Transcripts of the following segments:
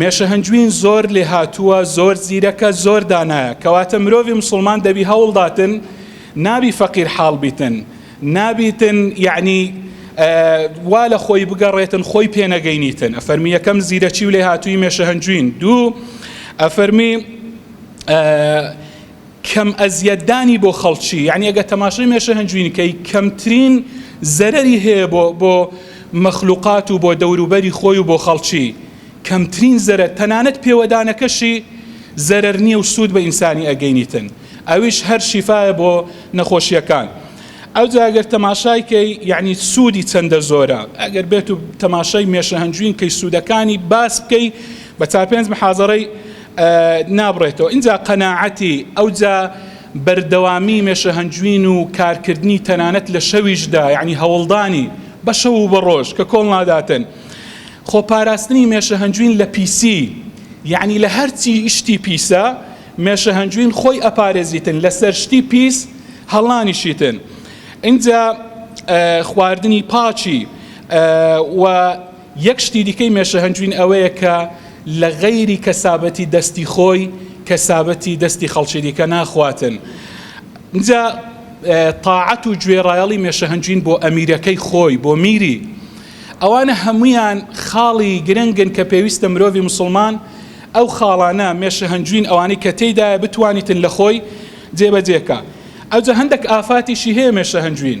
مێشە هەنجوین زۆر لێهاتووە زۆر زیرەکە زۆر دانایە کەواتە مرۆڤی مسوڵمان دەبی هەوڵداتن نابی فەقیر حاڵ بیتن نابیتن یعنی وا لە خۆی بگەڕێتن خۆی پێنەگەینیتن ئەفەرمی یەکەم زیرەکی و لێهاتووی مێشە هەنجوین دوو ئەفەرمی کەم ئەزیەت دانی بۆ خەڵکی یانی ئەگە تەماشەی مێشە هەنجوین کەی کەمترین زەرەری هەیە بۆ بۆ مەخلوقات و بۆ دەوروبەری خۆی و بۆ خەڵکی کەمترین زەرەر تەنانەت پێوەدانەکەشی زەرەر نییە و سوود بە ئینسانی ئەگەینیتن ئەویش هەر شیفاە بۆ نەخۆشیەکان ئەو جاگەر تەماشای کەی یعنی سوودی چەندە زۆرە ئەگەر بێت و تەماشای مێشە هەنجوین کەی سوودەکانی باس بکەی بە چار پێنج محازەڕی نابڕێتەوە ئینجا قەناعەتی ئەوجا بەردەوامی مێشەهەنجوین و کارکردنی تەنانەت لە شەویشدا یعنی هەوڵدانی بە شەو و بە ڕۆژ کە کۆڵ ناداتن خۆپاراستنی مێشەهەنجوین لە پیسی یعنی لە هەرچی شتی پیسە مێشەهەنجوین خۆی ئەپارێزیتن لەسەر شتی پیس هەڵانیشیتن ئینجا خواردنی پاکی و یەک شتی دیکەی مێشە هەنجوین ئەوەیە کە لە غەیری کەسابەتی دەستی خۆی کەسابەتی دەستی خەڵکی دیکە ناخواتن جا تاعەت و گوێڕایەڵی مێشە هەنجوین بۆ ئەمیرەکەی خۆی بۆ میری ئەوانە هەمویان خاڵی گرنگن کە پێویستە مرۆڤی مسلمان ئەو خاڵانە مێشە هەنجوین ئەوانەی کە تێدایە بتوانیتن لە خۆی جێبەجێکە ئەوجە هەندێک ئافاتیشی هەیە مێشە هەنجوین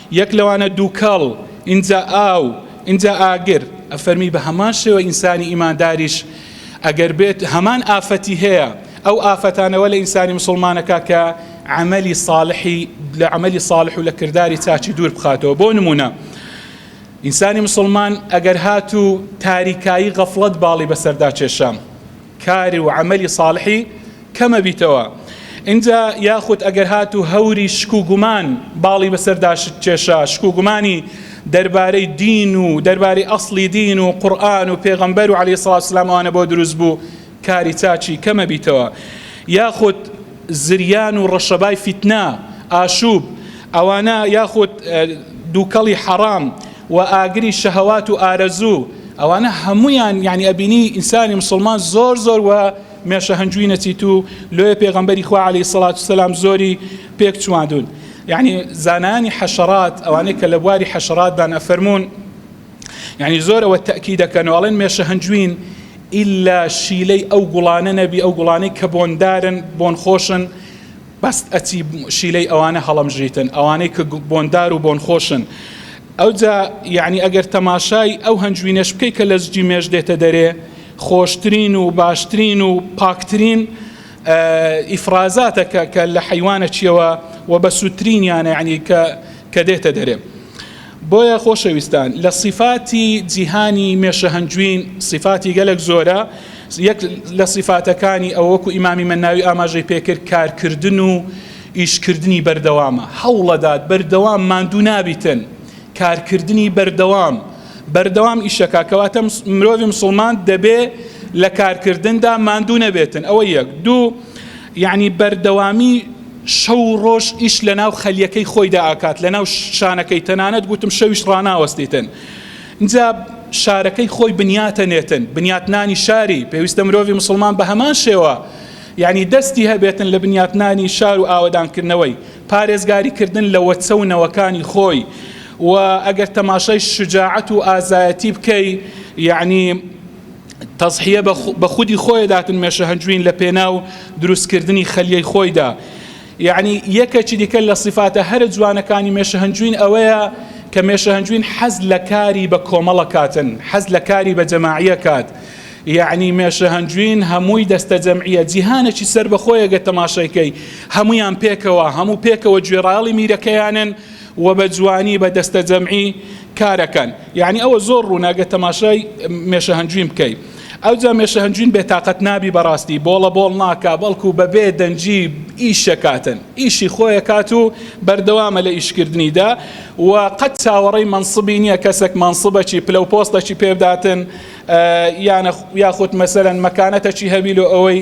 یەک لەوانە دووکەڵ، ئینجا ئاو، ئینجا ئاگر. ئەفەرمی بە هەمان شێوە ئینسانی ئیمانداریش ئەگەر بێت هەمان ئافەتی هەیە، ئەو ئافەتانە وە لە ئینسانی موسڵمانەکە کە عەمەلی ساڵحی لە عەمەلی ساڵح و لە کرداری چاکی دوور بخاتەوە بۆ نموونە ئینسانی موسڵمان ئەگەر هاتوو تاریکایی غەفڵەت باڵی بەسەردا کێشا، کار و عەمەلی ساڵحی کەمە بیتەوە ئینجا یاخود ئەگەر هاتوو هەوری شک و گومان باڵی بەسەردا شت کێشا شک و گومانی دەربارەی دین و دەربارەی ئەسڵی دین و قورئان و پێغەمبەر و عەلەیهی سڵاوسلام ئەوانە بۆ دروست بوو کاری چاکی کەمە بیتەوە یاخود زریان و ڕەشەبای فیتنە، ئاشووب، ئەوانە یاخود دووکەڵی حەڕام و ئاگری شەهەوات و ئارەزوو، ئەوانە هەموویان یانی ئەبینی ئینسانی مسوڵمان زۆر زۆر وە مێشە هەنجووی نەچیتوو، لۆیە پێغەمبەری خوا عەلەیهی سەڵات و سەلام زۆری پێک چواندوون. یانی زانایانی حەشەڕات، ئەوانەی کە لە بواری حەشەڕاتدان ئەفەرموون، یانی زۆر ئەوە تەکی دەکەنەوە ئەڵێن مێشە هەنجوین ئللا شیلەی ئەو گوڵانە نەبی ئەو گوڵانەی کە بۆندارن بۆن خۆشن بەست ئەچی شیلەی ئەوانە هەڵمژیتن ئەوانەی کە بۆندار و بۆن خۆشن ئەوجا یعنی ئەگەر تەماشای ئەو هەنجوینەش بکەی کە لە زجی مێش دێتە دەرێ خۆشترین و باشترین و پاکترین ئیفرازاتەکە کە لە حیوانە چیەوە و بە سووترینیانە یعنی کە کە دێتە دەرێ بۆیە خۆشەویستان لە سیفاتی جیهانی مێشە هەنجوین سیفاتی گەلەک زۆرە یەک لە سیفاتەکانی ئەو وەکو ئیمامی مەناوی ئاماژەی پێکرد کارکردن و ئیشکردنی بەردەوامە هەوڵەدات بەردەوام ماندوو نابیتن کارکردنی بەردەوام بەردەوام ئیشەکە کەواتە مرۆڤی مسلمان دەبێ لە کارکردندا ماندوو نەبێتن ئەوە یەک دوو یەعنی بەردەوامی شەو و ڕۆژ ئیش لەناو خەلیەکەی خۆیدا ئاکات لەناو شانەکەی تەنانەت گوتم شەویش ڕاناوەستیتن جا شارەکەی خۆی بنیاتە نێتن بنیاتنانی شاری پێویستە مرۆڤی مسلمان بە هەمان شێوە یعنی دەستی هەبێتن لە بنیاتنانی شار و ئاوەدانکردنەوەی پارێزگاری کردن لە وەچە و نەوەکانی خۆی و ئەگەر تەماشای شجاعەت و ئازایەتی بکەی یعنی تەزحیە بە خودی خۆی داتن مێشە هەنجوین لە پێناو دروستکردنی خەلیەی خۆیدا یعنی یەکەکی دیکە لە سیفاتە هەرە جوانەکانی مێشە هەنجوین ئەوەیە کە مێشە هەنجوین حەز لە کاری بە کۆمەڵە کاتن حەز لە کاری بە جەماعیە کات یعنی مێشە هەنجوین هەمووی دەستە جەمعیە جیهانەکی سەر بەخۆیەگە تەماشایکەی هەمویان پێکەوە هەموو پێکەوە گوێڕاڵی میرەکەیانن و بە جوانی بە دەستەجەمعی کارەکەن یعنی ئەوە زۆر ڕوونە گە تەماشای مێشە هەنجوین بکەی ئەوجا مێشە هەنجوین بێتاقەت نابی بەڕاستی بۆڵە بۆڵ ناکا بەڵکو بەبێ دەنگی ئیشەکاتن ئیشی خۆیە کات و بەردەوامە لە ئیشکردنیدا و قەت چاوەڕی مەنسبی نییە کەسێک مەنسبەکی پلە و پۆستەکی پێبداتن یانە یاخود مەسەرەن مەکانەتەکی هەبی لۆ ئەوەی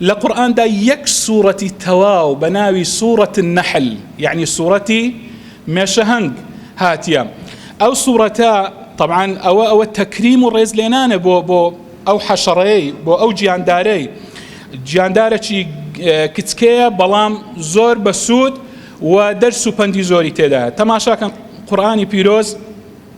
لە قورئاندا یەک سوڕەتی تەواو بە ناوی سوڕەت النحل یعنی سوڕەتی مێشەهەنگ هاتیە ئەو سوڕەتە طبعاان ئەوە ئەوە تەکریم و ڕێز لێنانە بۆ بۆ ئەو حەشەڕەیەی بۆ ئەو گیاندارەی گیاندارەی کچکەیە بەڵام زۆر بەسوود و دەرس و پەندی زۆری تێدا تەماشاکەن قورآانی پیرۆز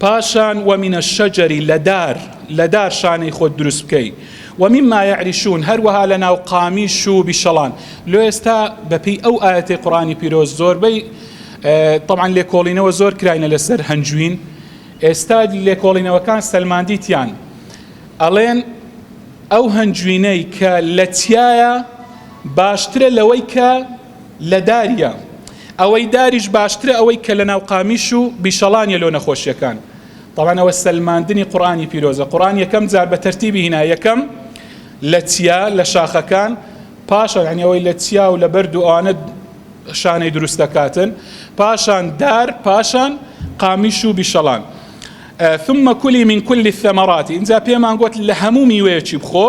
پاشان ومن الشجر لە دار لە دار شانەی خۆت دروست بکەی ومما یعریشون هەروەها لە ناو قامیش و بیشەڵان لۆ ئێستا بەپی ئەو ئاەتی قڕانی پیرۆز زۆربەی طبعا لێکۆڵینەوە زۆر کراینە لەسەر هەنجوین ئێستا لێکۆڵینەوەکان سەلماندیتیان ئەڵێن ئەو هەنجوینەی کە لە تایە باشترە لەوەی کە لە داریە ئەوەی داریش باشترە ئەوەی کە لە ناو قامیش و بیشەڵانیە لۆ نەخۆشیەکان تاوانەوە سەلماندنی قڕانی پیرۆزە قڕان یەکەم جار بە تەرتیبی هینا یەکەم لە چیا لە شاخەکان پاشە یعنیەوەی لە چیا و لە بەرد و ئەوانە شانەی دروست دەکاتن پاشان دار پاشان قامیش و بیشەڵان ثم کلی من کلی الثمرات اینجا پێمان گوت لە هەموو میوەیەکی بخۆ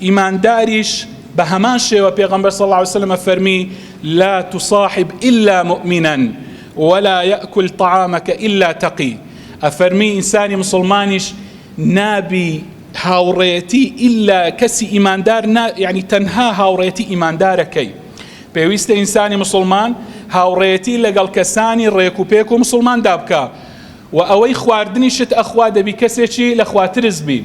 ئیمانداریش بە هەمان شێوە پێغەمبەر صلی اللە علیە وسلم فەرمی لا تصاحب الا مؤمنا ولا یاکل طعامک الا تقی ئەفەرمی ئینسانی مسلمانیش نابی هاوڕێتی الا کەسی ئیماندار نا یعنی تەنها هاوڕێتی ئیماندارەکەی پێویستە ئینسانی مسلمان هاوڕێتی لەگەڵ کەسانی ڕێک و پێک و مسلمان دابکە و ئەوەی خواردنی شت ئەخوا دەبی کەسێکی لە خواترز بی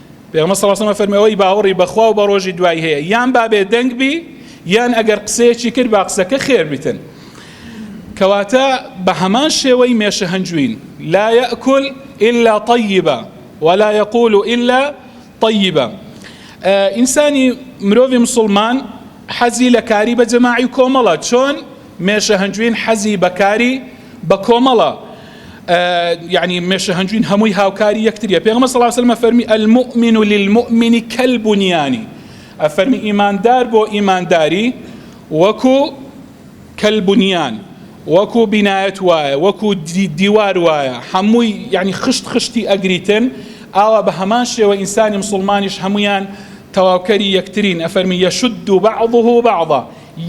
پێغەمبەر صلی اللە علیه و سلم فەرمی ئەوەی باوەڕی بەخوا و بە ڕۆژی دوایی هەیە یان با بێ دەنگ بی یان ئەگەر قسەیەکی کرد با قسەکە خێر بیتن کەواتە بە هەمان شێوەی مێشە هەنجوین لا یەکل إلا طیبە ولا یقول إلا طیبە ئینسانی مرۆڤی مسلمان حەزی لە کاری بە جەماعی کۆمەڵە چۆن مێشە هەنجوین حەزی بە کاری بە کۆمەڵە یعنی مێشە هەنجوین هەمووی هاوکاری یەکتریە پێغمە سەڵاو سلمە فەرمی المؤمن و للمؤمنی کەلبنیانی ئەفەرمی ئیماندار بۆ ئیمانداری وەکو کەلبنیان وەکو بینایەت وایە وەکو دیوار وایە هەمووی یعنی خشت خشتی ئەگریتن ئاوا بە هەمان شێوە ئینسانی مسلمانیش هەمویان تەواوکەری یەکترین ئەفەرمی یەشد و بعضه بعضا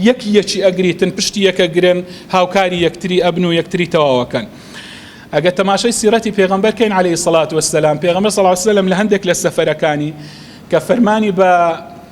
یەک یەکی ئەگریتن پشتی یەکە گرن هاوکاری یەکتری ئەبن و یەکتری تەواوەکەن ئەگە تەماشای سیرەتی پێغمبەر کەین عليه سڵات وسلام پێغمبەر صلی الله عليه وسلم لە هەندێک لە سەفەرەکانی کە فەرمانی بە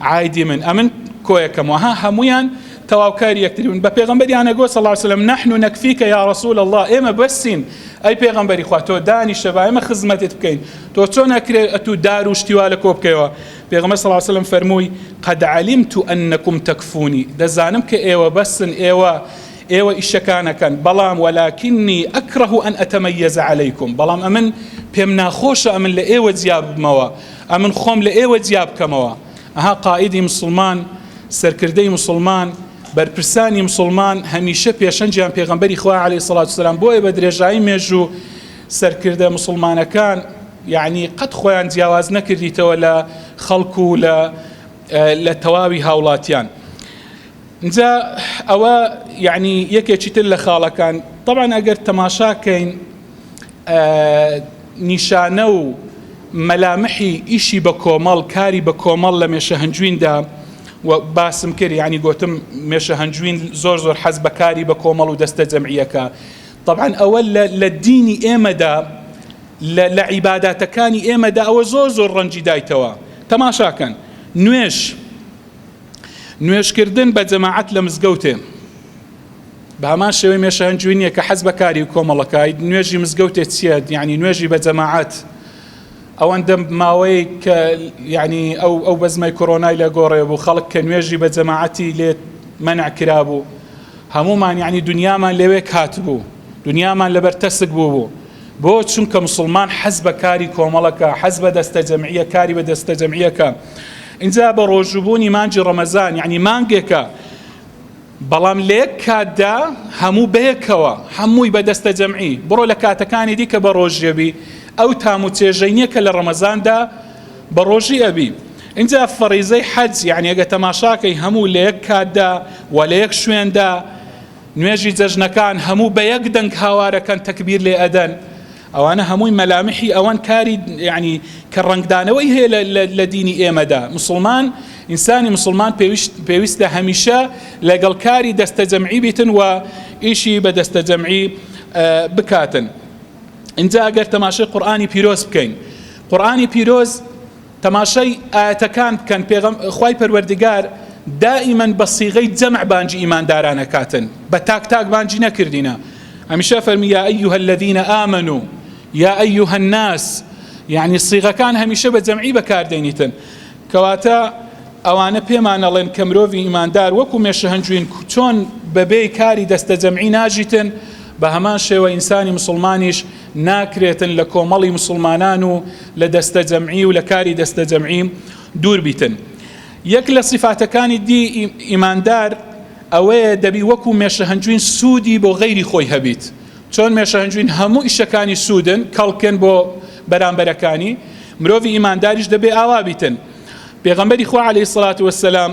عایدی من ئەمن کۆیەکەم وەها هەمویان تەواوکاری یەکتریون بە پێغمبەریانە گۆ صلی وسلم نحن نەکفیکە یا رسول الله ئێمە بەسین ئەی پێغمبەری خوا تۆ دانیشە با ئێمە خزمەتت بکەین تۆ چۆن نەکرێ ئەتو دار و شتیوا لە کۆ بکەیەوە پێغمبەر صلی وسلم فەرمووی قد علمت انکم تکفونی دەزانم کە ئێوە بەسن ئێوە ئێوە ئیشەکانەکەن بەڵام وەلاکینی ئەکڕه ئەن ئەتەمەیەزە عەلەیکم بەڵام ئەمن پێم ناخۆشە ئەمن لە ئێوە جیابمەوە ئەمن خۆم لە ئێوە جیا بکەمەوە. ئەها قائیدی موسڵمان، سەرکردەی موسڵمان، بەرپرسانی موسڵمان هەمیشە پێشەنگیان پێغەمبەری خوایە علیە سڵات وسلام بۆیە بە درێژایی مێژوو سەرکردە موسڵمانەکان یعنی قەت خۆیان جیاواز نەکردیتەوە لە خەڵک و لە لە تەواوی هاوڵاتیان جا ئەوە یعنی یەکێکی تر لە خاڵەکان طبعا ئەگەر تەماشاکەین نیشانە و مەلامحی ئیشی بە کۆمەڵ کاری بە کۆمەڵ لە مێشە هەنجویندا باسم کرد ینی گوتم مێشە هەنجوین زۆر زۆر حەز بەکاری بە کۆمەڵ و دەستە جەمعیەکە طبعاان ئەوە لە دینی ئێمەدا لە عیبااتەکانی ئێمەدا ئەوە زۆر زۆر ڕەنجی دایتەوە تەماشاکەن نوێش نوێژکردن بە جەماعەت لە مزگەوتێ بە هەمان شێوەی مێشە هەنجوی نییە کە حەز بەکاری و کۆمەڵەکای نوێژی مزگەوتێ چییە یعنی نوێژی بە جەماعەت ئەوەندە ماوەی کە یعنی ئەو ئەو بەزمای کۆرۆنای لە گۆڕێ بوو خەڵک کە نوێژی بە جەماعەتی لێت منع کرابوو هەمومان یعنی دنیامان لەوێ کات بوو دنیامان لەبەر تەسک بوو بوو بۆ چونکە مسلمان حەز بە کاری کۆمەڵەکە حەز بە دەستە جەمعیە کاری بە دەستە جەمعیەکە ئینجا بە ڕۆژوو بوونی مانگی ڕەمەزان یەعنی مانگێکە بەڵام لە یەک کاتدا هەموو بەیەکەوە هەمووی بە دەستە جەمعی بڕۆ لە کاتەکانی دیکە بە ڕۆژیەبی ئەو تام و چێژەی نییە کە لە ڕەمەزاندا بە ڕۆژی ئەبی اینجا فەڕیزەی حەج یعنی ئەگە تەماشاکەی هەموو لە یەک کاتدا و لە یەک شوێندا نوێژی جەژنەکان هەموو بە یەک دەنگ هاوارەکەن تەکبیر لێ ئەدەن ئەوانە هەمووی مەلامحی ئەوەن کاری یعنی کە ڕەنگدانەوەی هەیە لە دینی ئێمەدا مسلمان ئینسانی مسلمان پێویستە هەمیشە لەگەڵ کاری دەستە جەمعی بیتن و ئیشی بە دەستە جەمعی بکاتن اینجا ئەگەر تەماشای قورآانی پیرۆز بکەین قورآانی پیرۆز تەماشای ئایەتەکان بکەن، پێغەم، خوای پەروەردگار دائیمەن بە صیغەی جەمع بانگی ئیمانداران ئەکاتن، بە تاک تاک بانگی نەکردینە، هەمیشە ئەفەرمی یا ایها الذین آمنو یا ایها الناس، یەعنی صیغەکان هەمیشە بە جەمعی بەکاردێنیتن، کەواتە ئەوانە پێمان ئەڵێن کە مرۆڤی ئیماندار وەکو مێشە هەنجوین چۆن بەبێی کاری دەستە جەمعی ناژیتن، بە هەمان شێوە ئینسانی مسوڵمانیش، ناکرێتن لە کۆمەڵی مسوڵمانان و لە دەستەجەمعی و لە کاری دەستەجەمعی دوور بیتن یەک لە سیفاتەکانی دی ئیماندار ئەوەیە دەبی وەکو مێشەهەنجوین سوودی بۆ غەیری خۆی هەبیت چۆن مێشەهەنجوین هەموو ئیشەکانی سوودن کەڵکن بۆ بەرامبەرەکانی مرۆڤی ئیمانداریش دەبێ ئاوا بیتن پێغەمبەری خوا عەلەیهی سڵات وەسەلام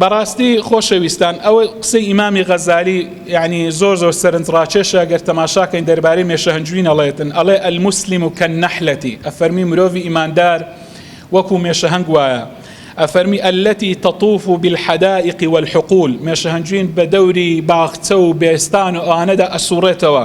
بەڕاستی خۆشەویستان ئەوە قسەی ئیمامی غەزالی یعنی زۆر زۆر سەرنج ڕاکێشە گەر تەماشاکەین دەربارەی مێشەهەنجوین ئەڵێتن ئەڵێ المسلم و کەن نەحلەتی ئەفەرمی مرۆڤی ئیماندار وەکو مێشەهەنگ وایە ئەفەرمی ئەلەتی تەطوف و بالحدائق والحقول مێشەهەنجوین بە دەوری باخچە و بێستان و ئەوانەدا ئەسوڕێتەوە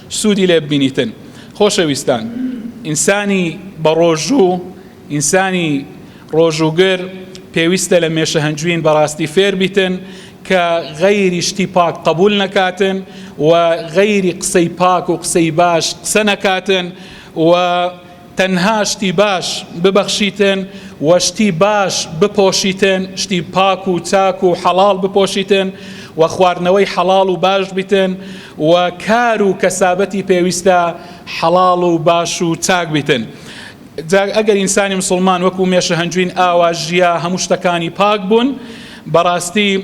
سوودی لێ ببینیتن خۆشەویستان ئینسانی بەڕۆژوو ئینسانی ڕۆژووگر پێویستە لە مێشە هەنجوین بەڕاستی فێر بیتن کە غەیری شتی پاک قبول نەکاتن و غەیری قسەی پاک و قسەی باش قسە نەکاتن و تەنها شتی باش ببەخشیتن و شتی باش بپۆشیتن، شتی پاک و چاک و حەڵاڵ بپۆشیتن و خواردنەوەی حەڵاڵ و باش بیتن و کار و کەسابەتی پێویستە حەڵاڵ و باش و چاک بیتن. جا ئەگەر ئینسانی مسوڵمان وەکو مێشە هەنجوین ئاوا ژیا هەموو شتەکانی پاک بوون بەڕاستی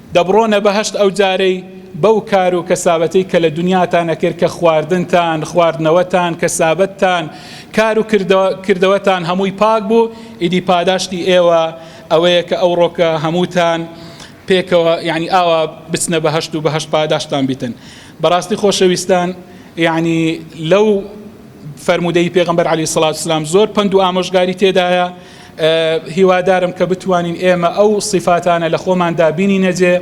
دەبڕۆنە بەهەشت ئەو جارەی بەو کار و کەسابەتەی کە لە دونیاتان ئەکرد کە خواردنتان، خواردنەوەتان، کەسابەتتان، کار و کردەوەتان هەمووی پاک بوو، ئیدی پاداشتی ئێوە ئەوەیە کە ئەوڕۆ کە هەمووتان پێکەوە یەعنی ئاوا بچنە بەهەشت و بەهەشت پاداشتتان بیتن. بەڕاستی خۆشەویستان یەعنی لەو فەرموودەی پێغەمبەر عەلەیهی سڵاوت وسلام زۆر پەند و ئامۆژگاری تێدایە، هیوادارم کە بتوانین ئێمە ئەو سیفاتانە لە خۆماندا بینینەجێ